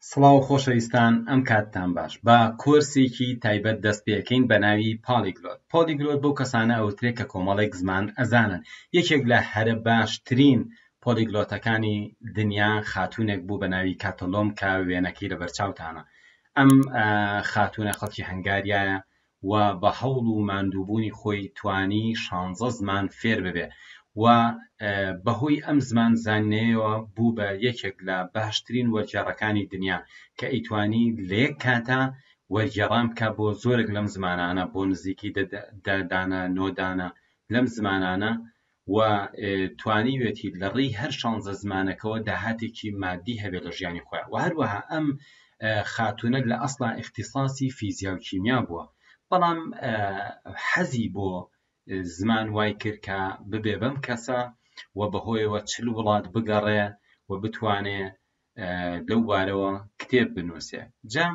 سڵاو خۆشەویستان ئەم کاتتان باش با کۆرسێکی تایبەت دەست پێکەین بە ناوی پاڵیگلۆت پۆلیگلۆت بۆ کەسانە ئەوترێت کە کۆمەڵێک زمان ئەزانن یەکێک لە هەرە باشترین پۆلیگلۆتەکانی دنیا خاتوونێک بوو بە ناوی کاتەلۆم کە وێنەکەی لە بەرچاوتانە ئەم خاتوونە خەڵکی هەنگاریایە و بە هەوڵ و ماندووبوونی خۆی توانی شانزە زمان فێر ببێ و بە هۆی ئەم زمان زانینەیەوە بوو بە یەکێک لە باشترین وەرگێڕەکانی دنیا کە ئەیتوانی لە یەک کاتا وەرگێڕان بکا بۆ زۆرێک لەم زمانانە بۆ نزیکی دە دانە نۆ دانە لەم زمانانە و توانیوێتی لە ڕێی هەر شانزە زمانەکەوە داهاتێکی مادی هەبێت لە ژیانی خۆیان و هەروەها ئەم خاتونە لە ئەسڵا ئیختصاسی فیزیا و کیمیا بووە بەڵام حەزی بۆ زمان وای کرد کە ببێ بەم کەسە و بەهۆیەوە چل وڵات بگەڕێ و بتوانێ لەو بارەوە کتێب بنووسێ جا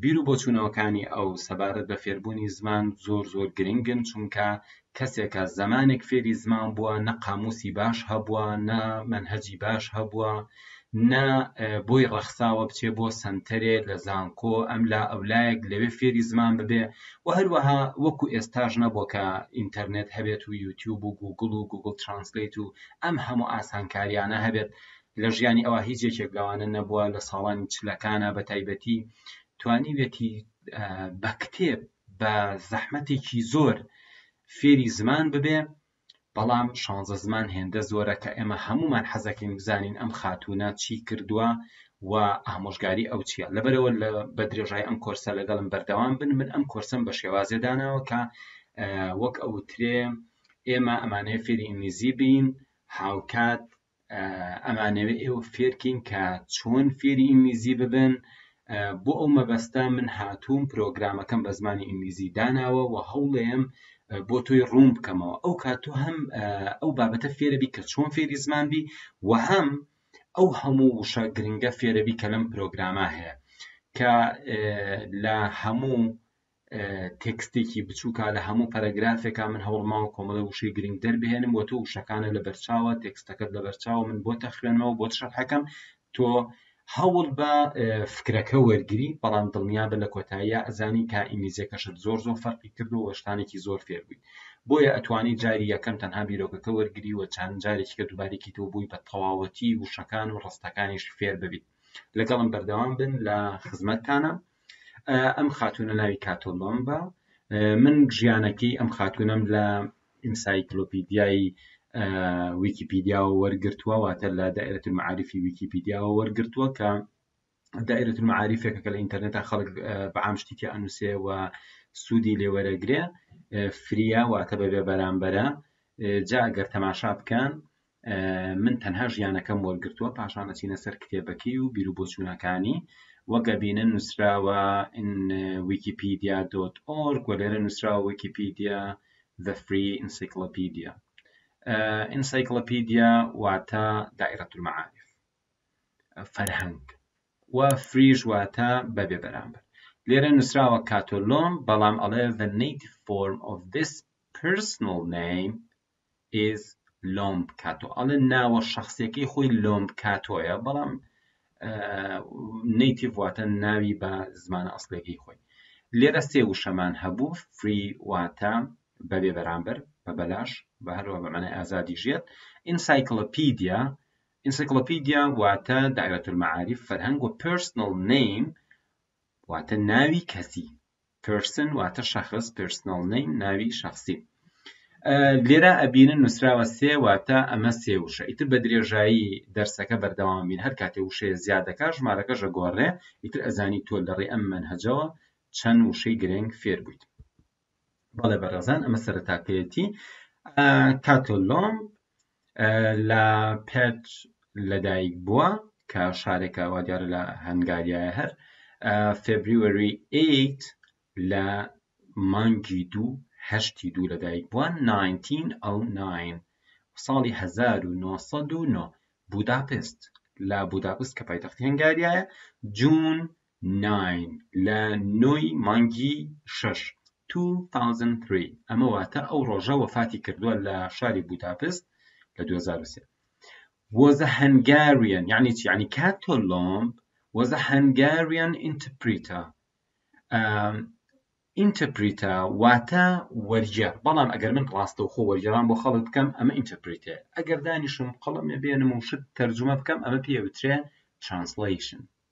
بیر و بۆچوونەوەکانی ئەو سەبارەت بە فێربوونی زمان زۆر زۆر گرنگن چونکە کەسێکە زمانێک فێری زمان بووە نە قاموسی باش هەبووە نە منهجی باش هەبووە نە بۆی ڕەخساوە بچێ بۆ سنتەرێ لە زانکۆ ئەم لا ئەولایەک لەوێ فێری زمان ببێ و هەروەها وەکو ئێستاش نەبووە کە ئینتەرنێت هەبێت و یوتیوب و گوگل و گوگل ترانسلیت و ئەم هەموو ئاسانکاریانە هەبێت لە ژیانی ئەوا هیچ یەکێک لەوانە نەبووە لە ساڵانی چلەکانە بە تایبەتی توانیوێتی بە کتێب بە زەحمەتێکی زۆر فێری زمان ببێ بەڵام شانزە زمان هێندە زۆرە کە ئێمە هەمومان حەزەکەین بزانین ئەم خاتوونە چی کردووە و ئامۆژگاری ئەو چییە لەبەرەوە لە بە درێژای ئەم کۆرسە لەگەڵم بەردەوام بن من ئەم کۆرسم بە شێوازێ داناوە کە وەک ئەوترێ ئێمە ئەمانەیە فێری ئینگلیزی بین هاوکات ئەمانەوێ ئێوە فێرکەین کە چۆن فێری ئینگلیزی ببن بۆ ئەو مەبەستا من هاتووم پرۆگرامەکەم بە زمانی ئینگلیزی داناوە و هەوڵێم بۆ تۆی ڕوون بکەمەوە ئەو کاتۆ هەم ئەو بابەتە فێرەبی کە چۆن فێری زمان بی و هەم ئەو هەموو وشە گرنگە فێرەبی کە لەم پرۆگرامە هەیە کە لە هەموو تێکستێکی بچووکە لە هەموو پەرەگرافێکا من هەوڵماوە کۆمەڵە وشەی گرنگ دەربهێنم و تۆ وشەکانە لە بەرچاوە تێکستەکەت لە بەرچاوە من بۆ تەخوێنەوە بۆ شەرحەکەم تۆ هەوڵ بە فکرەکە وەرگری بەڵام دڵنیا بە لە کۆتاییە ئەزانی کا ئینگلیزیەکەشت زۆر زۆر فەرقی کردو وەشتانێکی زۆر فێربووی بۆیە ئەتوانی جاری یەکەم تەنها بیرۆکەکە وەرگری و چند جارێکیکە دووبارێکی تۆ بووی بە تەواوەتی وشەکان و ڕستەکانیش فێر ببیت لەگەڵم بەردەوام بن لە خزمەتتانە ئەم خاتوونە ناوی کاتۆلۆمبە من ژیانەکەی ئەم خاتوونەم لە ئینسایکلۆپیدیایی ویکیپیدیاوە وەرگرتووە واتە لە دائرەت معاریفی ویکیپیدیاوە وەرگرتووە کە دائرەت معاریفێکە کە لە ئینتەرنێتە خەڵک بە عام شتێکی ئەنووسێ و سوودی لێوەرەگرێ فریا واتە بەبێ بەرامبەرە جا گەر تەماشا بکەن من تەنها ژیانەکەم وەرگرتووە پاشان ئەچینە سەر کتێبەکەی و بیروبۆچوونەکانی وەک ئەبینن نووسراوە ویکیپیدیا دۆت ئۆرگ و لێرە نووسراوە ویکیپیدیا The Free Encyclopedia ئینسایکلۆپیدیا واتە دائرەت المعارف فەرهەنگ و فریژ واتە بەبێ بەرامبەر لێرە نووسراوە کاتۆلۆم بەڵام ئەڵێ the native form of this personal name is لۆم بکاتۆ ئەڵێ ناوە شخصیەکەی خۆی لۆم بکاتۆیە بەڵام نیتیڤ واتە ناوی بە زمانە ئەسلێکی خۆی لێرە سێ وشەمان هەبوو فری واتە بەبێ بەرامبەر بە بەلاش بە هەروە بەمانای ئازادی ژێت ئینسایکلۆپیدیا ئینسایکلۆپیدیا واتە دایرەت المعارف فەرهەنگ و پرسنل نیم واتە ناوی کەسی پێرسن واتە شەخص پێرسنەڵ نەیم ناوی شخصی لێرا ئەبینن نووسراوە سێ واتە ئەمە سێ وشە ئیتر بە درێژایی دەرسەکە بەردەوام بین هەر کاتێ وشەیە زیادەکە ژمارەکەشە گۆڕێ ئیتر ئەزانی تۆ لەڕێ ئەم منهجەوە چەند وشەی گرنگ فێر بوویت بەڵێ بەڕێزان ئەمە سەرتاپێتی کاتۆلۆم لە پێت لەدایک بووە کە شارێکە وا دیارە لە هەنگاریایە هەر فێبریوەری 8 لە مانگی دوو هەشتی دوو لەدایک بووە 1909 ساڵی 1990 بوداپست لە بوداپست کە پایتەختی هەنگاریایە جون ناین، لە نۆی مانگی شەش، Two Thousand Three، ئەمە واتە ئەو ڕۆژە وەفاتی کردووە لە شاری بوداپست لە دوو هەزار و سێ. Was a Hungarian، یانی چی؟ یانی کاتۆلۆم was a Hungarian interpreter، ئا ئینتەرپریتە واتە وەرگێڕ، بەڵام ئەگەر من ڕاستەوخۆ وەرگێڕان بۆ خەڵک بکەم ئەمە ئینتەرپریتەیە، ئەگەر دانیشم قەڵەم نەبێنم و شت تەرجومە بکەم ئەمە پێ ئەوترێ Translation.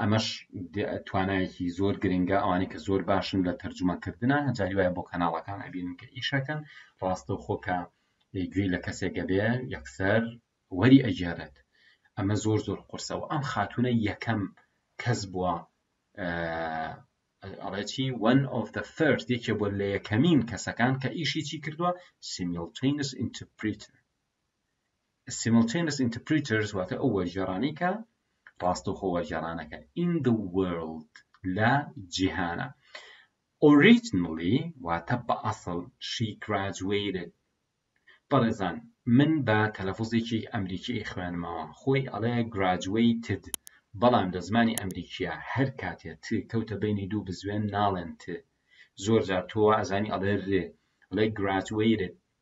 ئەمەش توانایەکی زۆر گرنگە ئەوانەی کە زۆر باشن لە تەرجومەکردە هەجاری وایە بۆ کەناڵەکان ئەبینن کە ئیشەکەن ڕاستە خۆکە گوێی لە کەسێکە بێ یەکسەر وەری ئەگێڕێت ئەمە زۆر زۆر قرسەوە ئەم خاتونە یەکەم کەس بووە ئەڵێکی وەن ئۆف دە فرد یەکێ بۆ لە یەکەمین کەسەکان کە ئیشی چی کردووە سیمیلتینس ئینتپریتر Simultaneous interpreters واتە ئەو وەرگێڕانەی کە ڕاستەوخۆ وەرگێڕانەکە in the world لە جیهانە originally واتە بە ئەسڵ she graduated بەڕێزان من بە تەلەفزێکی ئەمریکی خوێنمەوە خۆی ئەڵێ graduated بەڵام لە زمانی ئەمریکیە هەر کاتێ ت کەوتە بینی دوو بزوێن ناڵێن ت زۆر جار تۆوە ئەزانی ئەڵێ رێ ئەڵێ graduated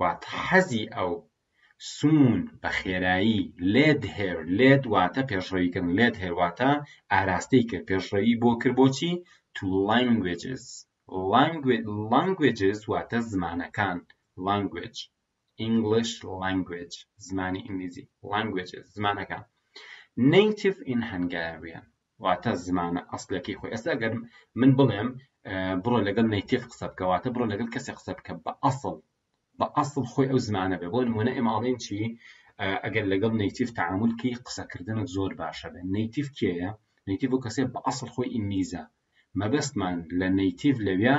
واتە حەزی ئەو، سوون، بە خێرایی، لێد هێر، لێد واتە پێشڕەوی کردن، لێد هێر واتە ئاراستەی کرد، پێشڕەوی بۆ کرد بۆچی؟ to languages languages واتە زمانەکان language English language زمانی ئینگلیزی languages زمانەکان native in Hungarian واتە زمانە ئەسڵیەکەی خۆی ئێستا گەر من بڵێم بڕۆ لەگەڵ نەیتیف قسە بکە واتە بڕۆ لەگەڵ کەسێک قسە بکە بە ئەسڵ بە ئەسڵ خۆی ئەو زمانە بێ بۆ نمونە ئێماڵێن چی ئەگەر لەگەڵ نەیتیف تعاملکی قسەکردنە زۆر باشە بێ نەیتیف کێیە نەیتیف و کەسێ بە ئەسڵ خۆی ئینگلیزە مەبەستمان لە نەیتیف لەویا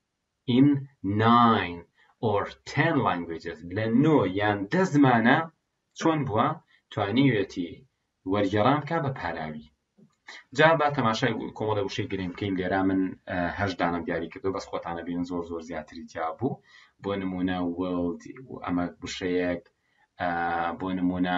in nine or ten languages لە نۆ یان دە زمانە چۆن بووە توانیوێتی وەرگێڕان بکا بە پاراوی جا با تەماشای کۆمەڵە وشەی گرنگ بکەین لێرا من هەش دانم دیاری کردو بەس خۆتانە بین زۆر زۆر زیاتری جیا بوو بۆ نمونە وڵد ئەمە وشەیەک بۆ نمونە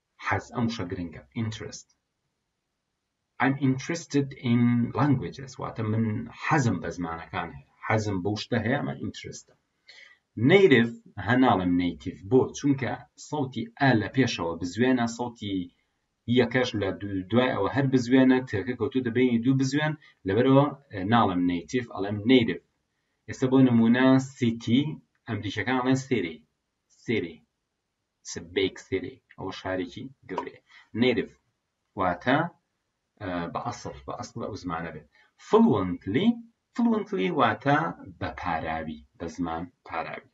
حەز ئەم وشە گرنگە interest I'm interested in languages واتە من حەزم بە زمانەکان هەیە حەزم بەو شتە هەیە ئەمە ئینترستە نەیرف هە ناڵم نەیتیف بۆ چونکە سەوتی ئە لە پێشەوە بزوێنە سەوتی یەکەش لە دوای ئەوە هەر بزوێنە تێکە کەوتو دەبینی دوو بزوێن لەبەرەوە ناڵم نەیتیف ئەڵم نەیرف ئێستا بۆ نمونە سیتی ئەمریکەکان ئەڵێن سێری سێری سبێکسێری ئەوە شارێکی گەورەیە نێرڤ واتە بە ئەسڵ بە ئەسڵ ئەو زمانە بێت فڵوەنتلی فڵوەنتلی واتە بە پاراوی بە زمان پاراوی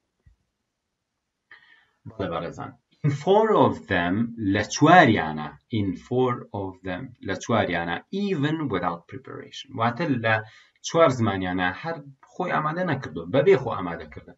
بەڵێ بەڕێزان in four of them لە چواریانە in four of them لە چواریانە even without preparation واتە لە چوار زمانیانە هەر خۆی ئامادە نەکردو بەبێ خۆ ئامادەکردن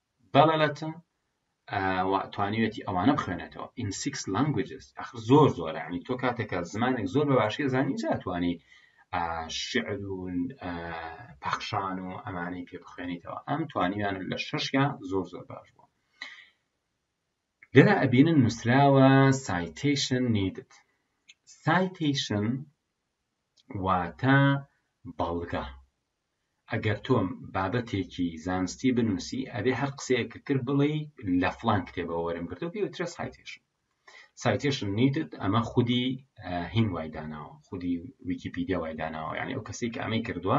بەڵەلەتن توانیوێتی ئەوانە بخوێنێتەوە in six languages ئەخر زۆر زۆر عنی تۆ کاتێکە زمانێک زۆر بە باشی زانی جاتوانی شعر و پەخشان و ئەمانەی پێ بخوێنیتەوە ئەم توانیان لە شەشیان زۆر زۆر باش بوو لێرا ئەبینن نووسراوە سایتیشن نیدت سایتیشن واتە بەڵگە ئەگەر تۆ بابەتێکی زانستی بنووسی ئەبێ هەر قسەیە کە کرد بڵێی لە فڵان کتێبەوە وەرم گرتو پێ وترێ سایتێشن سایتێشن نیدت ئەمە خودی هین وای داناوە خودی ویکیپیدیا وای داناوە یعنی ئەو کەسی کە ئەمەی کردووە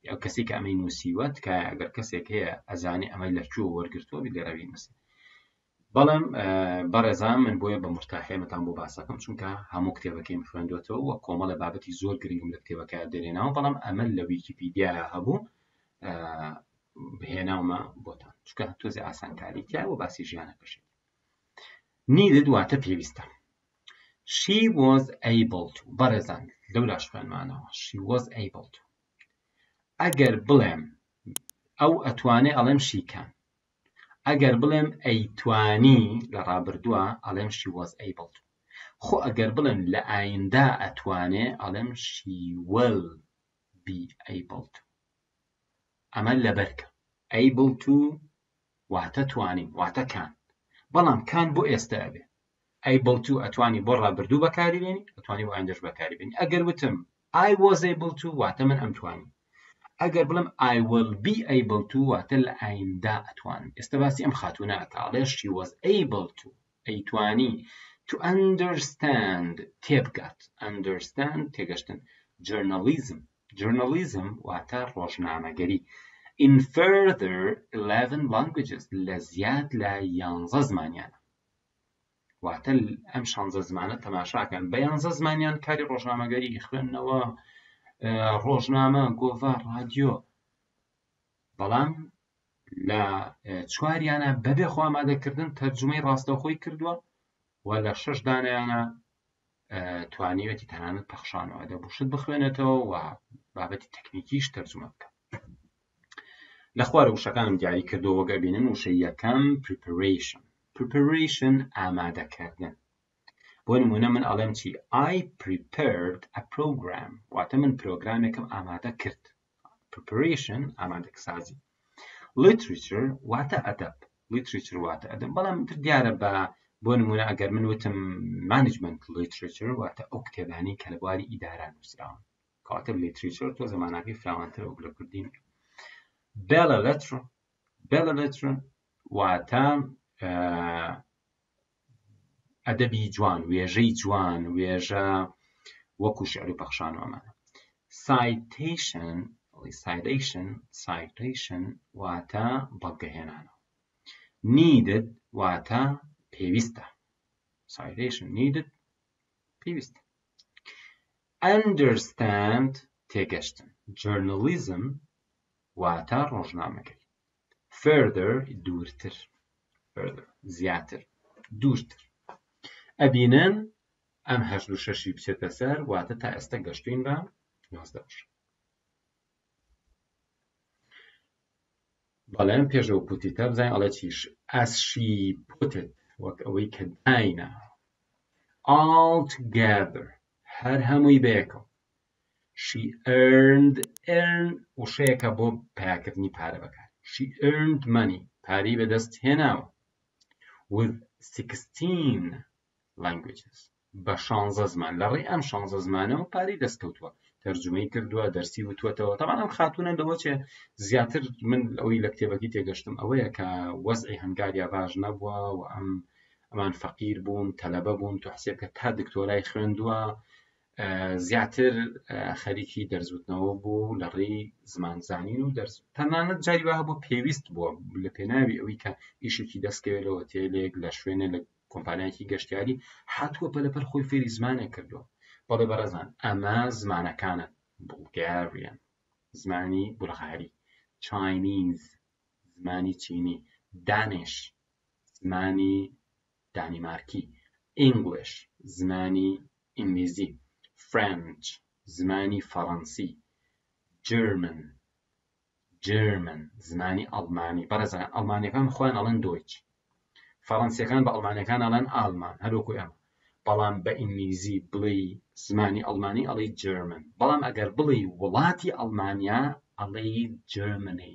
ئەو کەسی کە ئەمەی نووسیوە تکایە ئەگەر کەسێک هەیە ئەزانێ ئەمەی لە کوێ وەرگرتووە لێرەوی نووسێ بەڵام بەڕێزان من بۆیە بە مورتاحێنەتان بۆ باسەکەم چونکە هەموو کتێبەکەیم خوێندوێتەوە وە کۆمەڵە بابەتی زۆر گرنگم لە کتێبەکە دێنێنەوە بەڵام ئەمە لە ویکیپیدیا هەبوو بهێناومە بۆتان چکە تۆزی ئاسانکاری تیا و باسی ژیانە کەشێت نیدە دواتە پێویستە she was able to بەڕێزان لەو لاشکانمانەوە she was able to ئەگەر بڵێم ئەو ئەتوانێ ئەڵێم شیکان ئەگەر بڵێم ئەیتوانی لە ڕابردووە ئەڵێم شی وەز ئەیبڵ خۆ ئەگەر بڵێم لە ئاییندا ئەتوانێ ئەڵێم شی وەل بی ئەیبڵ ئەمە لەبەرکە ئەیبڵ تو واتە توانین واتە کان بەڵام کان بۆ ئێستا ئەبێ able to ئەتوانی بۆ ڕابردوو بەکاری بێنی ئەتوانی بۆ ئایندەش بەکاری بێنی ئەگەر وتم I was able to واتە من ئەمتوانی ئەگەر بڵم I will be able to واتە لە ئایندا ئەتوانم ئێستا باسی ئەم خاتوونە ئەکا ئەڵێ she was able to ئەیتوانی to understand تێبگات understand تێگەشتن journalism journalism واتە ڕۆژنامەگەری in further 11 languages لە زیاد لە 11 زمانیانە واتە ئەم شانزە زمانە تەماشاکەن بە یانزە زمانیان کاری ڕۆژنامەگەری خوێندنەوە ڕۆژنامە گۆڤە ڕادیۆ بەڵام لە چواریانە بەبێ خۆمادەکردن تەرجمەی ڕاستەوخۆی کردووە و لە شش دانیانە توانیوێتی تەنانەت پەخشانەوە ئەدە بوشت بخوێنێتەوە و بابەتی تەکنیکیش تەرجمە بکە لە خوارە وشەکانم دیاری کردو وەگە بینن وشە یەکەم preparation preparation ئامادەکردن بۆ نمونە من ئەڵێم چی I prepared a program واتە من پرۆگرامێکم ئامادە کرد preparation ئامادەکسازی literature واتە ئەدەب literature واتە ئەدەب بەڵام تر دیارە بە بۆ نمونە ئەگەر من وتم management literature واتە ئەو کتێبانی کە لە بواری ئیدارە نووسراون کەواتە literature تۆ زمانەکەی فراوانتر وەک لە کوردی بێڵە لەتر بێڵە لەتر واتە ئەدەبی جوان، وێژەی جوان، وێژە وەکوو شیعر و پەخشان و ئەمانە. سایتەیشن، سایتەیشن، سایتەیشن واتە بەڵگەهێنانەوە. نیدد واتە پێویستە. سایتەیشن نیدد پێویستە. ئەندەرستاند تێگەشتن. جۆرنالیزم واتە ڕۆژنامەگەری. further دوورتر further زیاتر دوورتر ئەبینن ئەم هەشت و شەشی بچێتە سەر واتە تا ئێستا گەشتوین بە نۆزدە بشە بەڵێن پێشەوە پوتی تا بزانین ئەڵێ چیش ئەسشی پوتت وەک ئەوەی کە داینە ئاڵت گابر هەر هەمووی بەیەکەوە She earned earn وشەیەکە بۆ پەیاکردنی پارە بەکار She earned money پارەی بەدەست هێناوە with 16 languages بە شانزە زمان لە ڕێ ئەم شانزە زمانەوە پارەی دەستکەوتووە تەرجمەی کردووە دەرسی وتوەتەوە تەمان ئەم خاتونە لەوەچێ زیاتر من ئەوەی لە کتێبەکەی تێگەشتم ئەوەیە کە وەزعی هەنگاریا باش نەبووە و ئەم ئەمان فەقیر بوون تەلەبە بوون تۆ حسێبکە تا دکتۆرای خوێندووە زیاتر خەریکی دەرزوتنەوە بوو لە ڕێی زمان زانین و دەرز تەنانەت جاری وها بۆ پێویست بووە لە پێناوی ئەوەی کە ئیشێکی دەستکەوێت لە هۆتێلێک لە شوێنێ لە کۆمپانیاکی گەشتیاری هاتووە پەلەپەر خۆی فێری زمانێک کردووە بەڵێ بەڕێزان ئەمە زمانەکانە بڵگاریان زمانی بولغاری چاینیز زمانی چینی دانش زمانی دانیمارکی English زمانی ئینگلیزی French زمانی فەڕەنسی German جێرمن زمانی ئەڵمانی بەڕێزان ئەڵمانیەکان خۆیان ئەڵێن دۆیچ فەڕەنسیەکان بە ئەڵمانەکان ئەڵێن ئالمان هەروەکو ئێمە بەڵام بە ئینگلیزی بڵێ زمانی ئەڵمانی ئەڵی جرمن بەڵام ئەگەر بڵێ وڵاتی ئەڵمانیا ئەڵێ جرمنی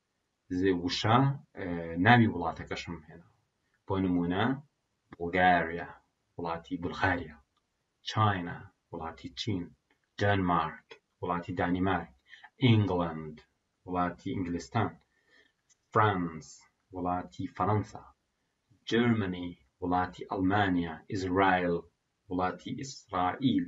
وشە ناوی وڵاتەکەشم هێنا بۆ نمونە بولگاریا وڵاتی بولغاریا چاینا وڵاتی چین دەنمارک وڵاتی دانیمارک ئینگلند وڵاتی ئینگلستان فرانس وڵاتی فەرەنسا جرمنی وڵاتی ئەڵمانیا ئیسرائیل وڵاتی ئیسرائیل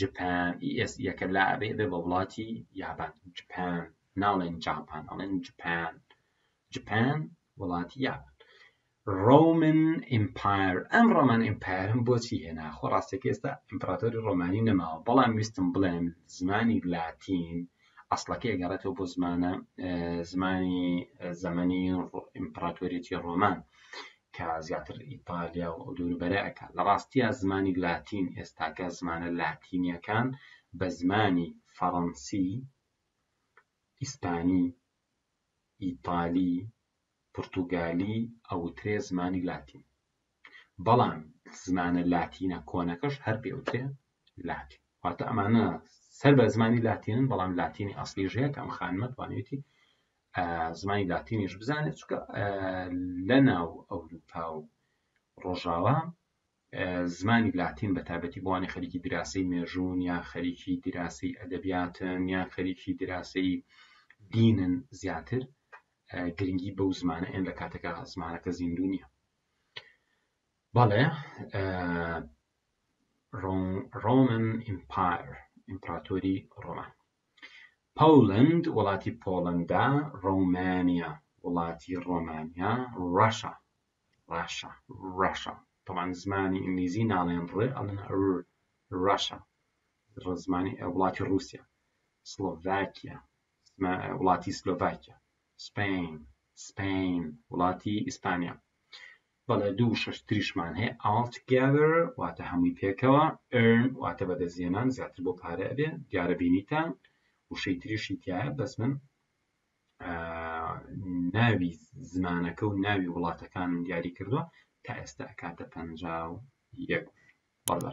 جپان ES یەکە لا ئەبێ بێ بە وڵاتی یابان جپان ناڵێن جاپان ئەڵێن جپان جپان وڵاتی یابان ڕۆمن ئیمپایر ئەم ڕۆمان ئیمپایرم بۆچی هێنا خۆ ڕاستێک ئێستا ئیمپراتۆری ڕۆمانی نەماوە بەڵام ویستم بڵێم زمانی لاتین ئەسڵەکەی گەڕێتەوە بۆ زمانە زمانی زەمەنی ئیمپراتۆریەتی ڕۆمان کە زیاتر ئیتالیا و ئەو دووروبەرە ئەکات لە ڕاستیە زمانی لاتین ئێستاکە زمانە لاتینیەکان بە زمانی فەڕەنسی ئیسپانی ئیتالی پرتوگالی ئەوترێ زمانی لاتین بەڵام زمانە لاتینە کۆنەکەش هەر پێوتێ لاتین واتە ئەمانە سەر بە زمانی لاتینن بەڵام لاتینی ئەسلیژەیە کە ئەم خانمە توانێتی زمانی لاتینیش بزانێت چکە لە ناو ئەوروپا و ڕۆژاوا زمانی لاتین بە تابەتی بوانی خەریکی دراسی مێژوون یا خەریکی دراسی ئەدەبیاتن یا خەریکی دراسی دینن زیاتر گرنگی بەو زمانە ئێن لە کاتەکە زمانەکە زیندو نیە بەڵێ ڕۆمن ئیمپایر ئیمپراتۆری ڕۆمان Poland وڵاتی پۆڵەندا Romania وڵاتی ڕۆمانیا Russia ڕاشا Russia تەمان زمانی ئینگلیزی ناڵێن ڕ ئەڵێن ر Russia ڕزمانی وڵاتی ڕووسیا سلۆڤاکیا وڵاتی سلۆڤاکیا Spain Spain وڵاتی ئیسپانیا بەڵێ دوو وشەش تریشمان هەیە all together واتە هەمووی پێکەوە earn واتە بەدەستێنان زیاتر بۆ پارە ئەبێ دیارە بینیتان وشەی تریشی تایە بەس من ناوی زمانەکە و ناوی وڵاتەکانم دیاری کردووە تا ئێستا کاتە پەنجا و یەک بەڵێ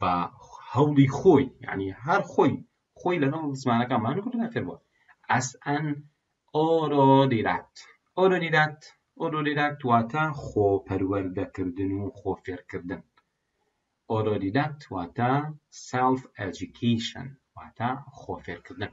بە هەوڵی خۆی یعنی هەر خۆی خۆی لەگەڵ زمانەکان مانو کردنە فێربووە ئەس ئەن ئۆرۆدیرات ئۆرۆدیرات ئۆرۆدیرات واتە خۆپەروەردەکردن و خۆفێرکردن ئۆرۆدیدات واتە ساڵف ئەجیکیشن واتە خۆفێرکردن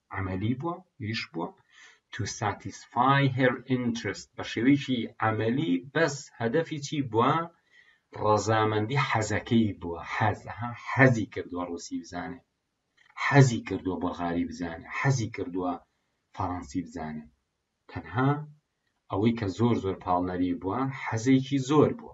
عەمەلی بووە یش بووە to satisfy her interest بە شێوەیەکی عەمەلی بەس هەدەفی چی بووە ڕەزامەندی حەزەکەی بووە حەزە حەزی کردووە ڕوسی بزانێ حەزی کردووە بەغاری بزانێ حەزی کردووە فەڕەنسی بزانێ تەنها ئەوەی کە زۆر زۆر پاڵنەری بووە حەزێکی زۆر بووە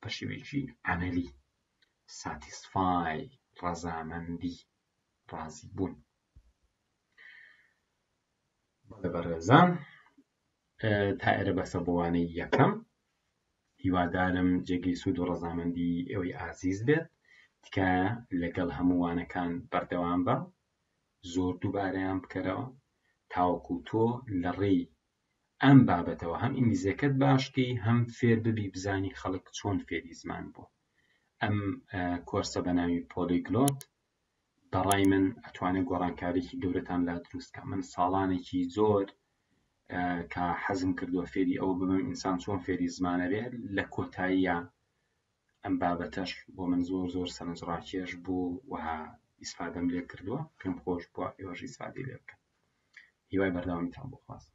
بە شێوەیەکی عەمەلی ساتیسفای ڕەزامەندی ڕازی بوون بەڵێ بەڕێزان تا ئێرە بەسە بۆوانەی یەکەم هیوادارم جێگەی سوود و ڕەزامەندی ئەوەی ئازیز بێت تکایە لەگەڵ هەمووانەکان بەردەوام بە زۆر دووبارەیان بکەرەوە تاوەکو تۆ لە ڕێی ئەم بابەتەوە هەم ئینگلیزیەکەت باش کەی هەم فێر ببی بزانی خەڵک چۆن فێری زمان بوون ئەم کۆرسە بە ناوی پۆلیگلۆت بەڕای من ئەتوانێت گۆڕانکارێکی گەورەتان لا دروستکە من ساڵانێکی زۆر کە حەزم کردووە فێری ئەوە ببم ئینسان چۆن فێری زمانەوێت لە کۆتاییە ئەم بابەتەش بۆ من زۆر زۆر سەرنجڕاکێش بوو وەها ئیسفادەم لێ کردووە پێم خۆش بووە ئێوەش ئیسفادی لێ بکەن هیوای بەردەوامیتان بۆ خواست